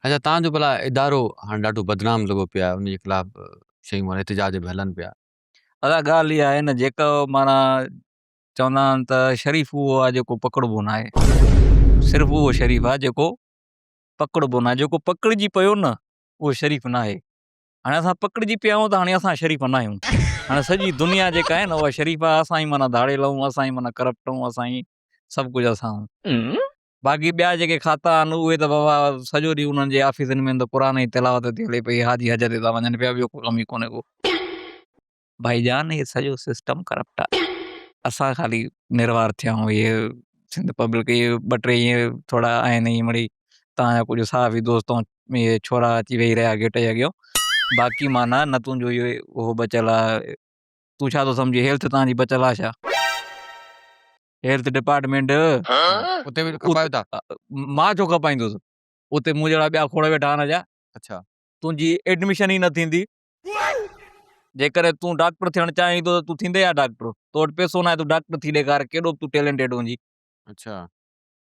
اچا تان جو ڀلا ادارو هاڻي ڏاڍو بدنام لڳو پيو آهي ان جي خلاف شيون احتجاج به هلن پيا. ادا ڳالهه اها آهي نه جيڪو معنيٰ چوندا آهن ته شريف اهو آهي جيڪو پڪڙبو ناهي صرف اهو شريف آهي جيڪو پڪڙبو ناهي جيڪو پڪڙجي پيو نه اهو شريف ناهي هاڻي اسان پڪڙجي پيا آهيون ته هاڻي اسان شريف ناهيون هاڻي سڄي دنيا جيڪا آهي نه اها شريف آهي اسان ئي معنيٰ ڌاڙيل آهيون اسان ئي معنيٰ ڪرپٽ آهيون اسان ئي سڀ ڪجهه اسان باقي ٻيا جيڪي کاتا آهن اهي ته بابا سڄو ڏينهن انهن جي آفيسن ۾ ته قرآن جي تلاوت ٿي هلي پئي حاجي حج تي ٿا وڃن پيا ٻيو ڪو ڪم ئي ڪونهي ڪو. ڀائي جان هي سڄو سسٽم ڪرپٽ آهي اسان خالي نروار ٿيا آهيون هي سنڌ پبلڪ هي ٻه ٽي ائين ٿورا آهن ائين مڙئي تان جا ڪجهه صحافي دوست ائين هي ڇورا اچي ويهي رهيا گيٽ جي اڳيان باقي معنيٰ نه تنهنجو اهو اهو بچيل آهي تون ڇا ٿو سمجهين هيلٿ تان جي بچيل آهي ڇا. هيلٿ ڊپارٽمينٽ اتي به کپايو ٿا مان ڇو کپائيندس اتي مون جهڙا ٻيا کوڙ ويٺا آهن اجا اڇا تنهنجي ايڊميشن ئي نه ٿيندي جيڪڏهن تون ڊاڪٽر ٿيڻ چاهين ٿو ته تون ٿيندي يا ڊاڪٽر تو وٽ پيسو ناهي تون ڊاڪٽر ٿي ڏيکار ڪيڏو به تون ٽيلنٽيڊ هجي اڇا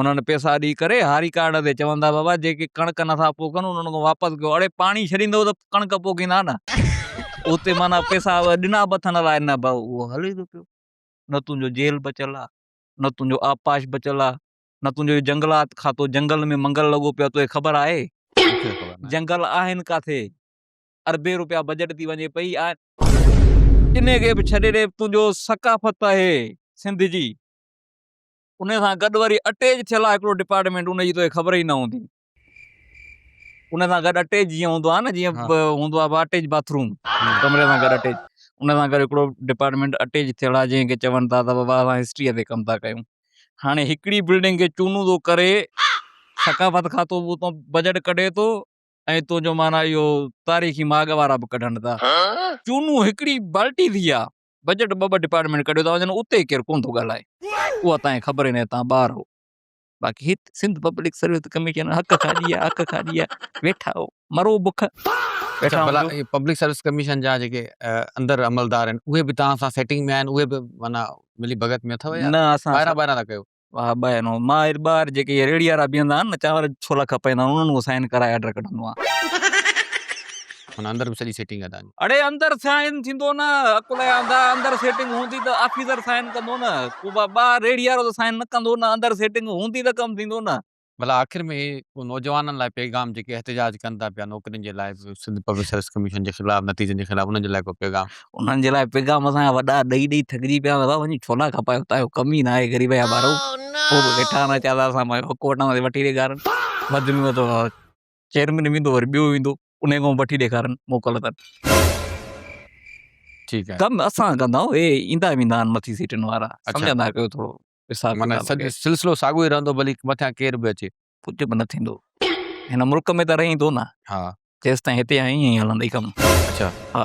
انهن پيسا ڏئي ڪري هاري ڪارڊ تي چون ٿا بابا جيڪي ڪڻڪ نٿا پوکن انهن کان واپس ڪيو اڙي پاڻي ڇڏيندو ته ڪڻڪ پوکيندا نه اتي معنيٰ پيسا ڏنا به اٿن الاء نه به اهو هلي ٿو پيو نه تنهنجو جيل بچيل آ نه تنهنجو آبپاش بچيل آ نه تنهنجو جنگلات کاتو جنگل ۾ منگل لڳو پيو آ توکي خبر آهي جنگل آهن ڪاٿي اربين روپيا بجيٽ ٿي وڃي پئي انهي کي به ڇڏي ڏي تنهنجو ثقافت آهي سنڌ جي انهي سان گڏ وري اٽيچ ٿيل آهي هڪڙو ڊپارٽمينٽ ان جي توکي خبر ئي نه هوندي انهي سان گڏ اٽيچ جيئن هوندو آهي نه جيئن هوندو آهي اٽيچ باٿ روم ڪمري سان گڏ اٽيچ انهي سان گڏ هڪڙو ڊپارٽمينٽ اٽيچ ٿيل آهي جنهن کي چون ٿا ته بابا اسان هسٽري تي ڪم ٿا ڪيون هاڻي هڪڙي بلڊنگ کي چونو ٿو ڪري ثقافت کاتو به اتان بجيٽ ڪڍي ٿو ۽ تنهنجو معنيٰ اهو تاريخي ماڳ وارا به ڪڍن ٿا چونو هڪڙي بالٽي ٿي آهي بجيٽ ٻه ٻه ڊپارٽمينٽ ڪڍيو ٿا وڃن اتي ڪير ڪونه ٿو ڳالهائي اها تانجي خبر ئي ناهي تان ٻار هو باقي هت سنڌ پبلڪ سروس ڪميشن حق کان ڏيا حق کان ڏيا ويٺا هو مرو بک اچا ڀلا هي پبلڪ سروس ڪميشن جا جيڪي اندر عملدار آهن اهي به توهان سان سيٽنگ ۾ آهن اهي به معنيٰ ملي ڀڳت ۾ اٿو يا نه اسان ٻاهران ٻاهران ٿا ڪيو واھ ٻه آهن مان هير ٻار جيڪي ريڙي وارا بيهندا آهن نه چانور ڇولا کپائيندا آهن انهن کان سائن ڪرائي آرڊر ڪڍندو آهيان. هن اندر به سڄي سيٽنگ آهي تنهنجي. اڙي اندر سائن ٿيندو نه عقل جا انڌا اندر سيٽنگ هوندي ته آفيسر سائن ڪندو نه ڪو ٻار ريڙي وارو ته سائن نه ڪندو نه اندر سيٽنگ هوندي ته ڪم ٿيندو نه. ڀلا آخر ۾ هي نوجوانن لاء پيغام جيڪي احتجاج ڪن ٿا پيا نوڪرين جي لاء سنڌ پبلڪ سروس ڪميشن جي خلاف نتيجن جي خلاف انهن جي لاء ڪو پيغام. انهن جي لاء پيغام اسان جا وڏا ڏئي ڏئي ٿڪجي پيا آهيون وڃي ڇولا کپايو اتان جو ڪم ئي نه آهي غريب جا ٻارو پوء به ويٺا آهن اچا ٿا اسان پنهنجو حق وٺنداسين وٺي ڏيکارن بدلي ۾ ته چيئرمين ويندو وري ٻيو ويندو انهي کان وٺي ڏيکارن موڪل اٿن ٺيڪ آهي ڪم اسان ڪندا آهيون اي ايندا ويندا آهن مٿي سيٽن وارا سمجهندا ڪيو ٿورو معنيٰ سلسلو ساڳيو ئي رهندو ڀلي مٿان ڪير به اچي. ڪجهه به نه ٿيندو هن ملڪ ۾ ته رهين ٿو نه جيستائين هتي آهين ائين ئي هلندئي ڪم. اڇا. ها.